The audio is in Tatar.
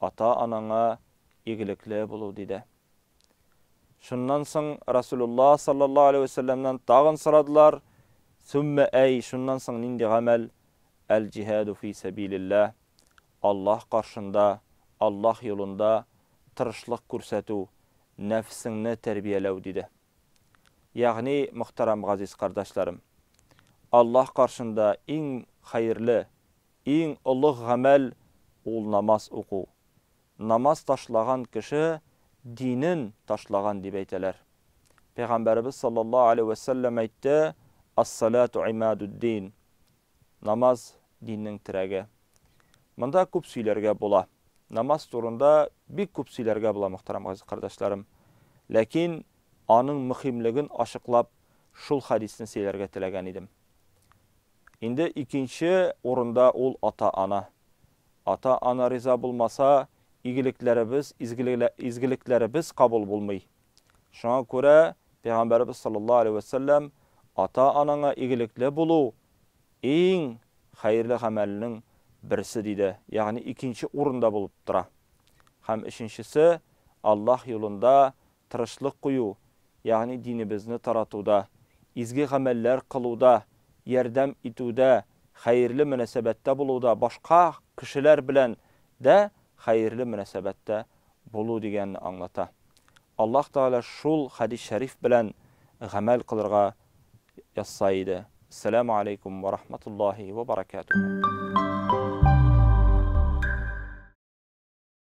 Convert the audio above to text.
ата-анаңа игелекле булу, диде. Шуннан соң Расулулла саллаллаһу алейһи вә сәлләмнән тагын сорадылар, Суммә әй, шуннан соң нинди гамәл? Әл-җиһаду фи сәбилилләһ, Аллаһ каршында, Аллаһ юлында тырышлык күрсәтү, нәфсеңне тәрбияләү, диде. Ягъни, мөхтәрәм газиз кардәшләрем, Аллаһ каршында иң хәерле Иң олуг гамәл ул намаз уку. Намаз ташлаган кеше динен ташлаган дип әйтәләр. Пәйгамбәребез саллаллаһу алейһи вә сәлләм әйтте, Ас-салату имадуд-дин. Намаз диннең терәге. Монда күп сөйләргә була. Намаз турында бик күп сөйләргә була, мөхтәрәм газиз кардәшләрем. Ләкин аның мөхимлеген ачыклап шул хәдисне сөйләргә теләгән идем. Инде икенче урында ул ата-ана. Ата-ана риза булмаса, игелекләребез, изгелекләребез кабул булмый. Шуңа күрә Пәйгамбәребез саллаллаһу алейһи вә сәлләм ата-анаңа игелекле булу иң хәерле гамәлнең берсе диде, ягъни икенче урында булып тора. Һәм өченчесе, Аллаһ юлында тырышлык кую, ягъни динебезне таратуда, изге гамәлләр кылуда, ярдәм итүдә, хәерле мөнәсәбәттә булуда, башка кешеләр белән дә хәерле мөнәсәбәттә булу дигәнне аңлата. Аллаһ Тәгалә шул хәдис шәриф белән гамәл кылырга язса иде. Ссәламү алейкум вә рахматуллаһи вә баракәтүһү.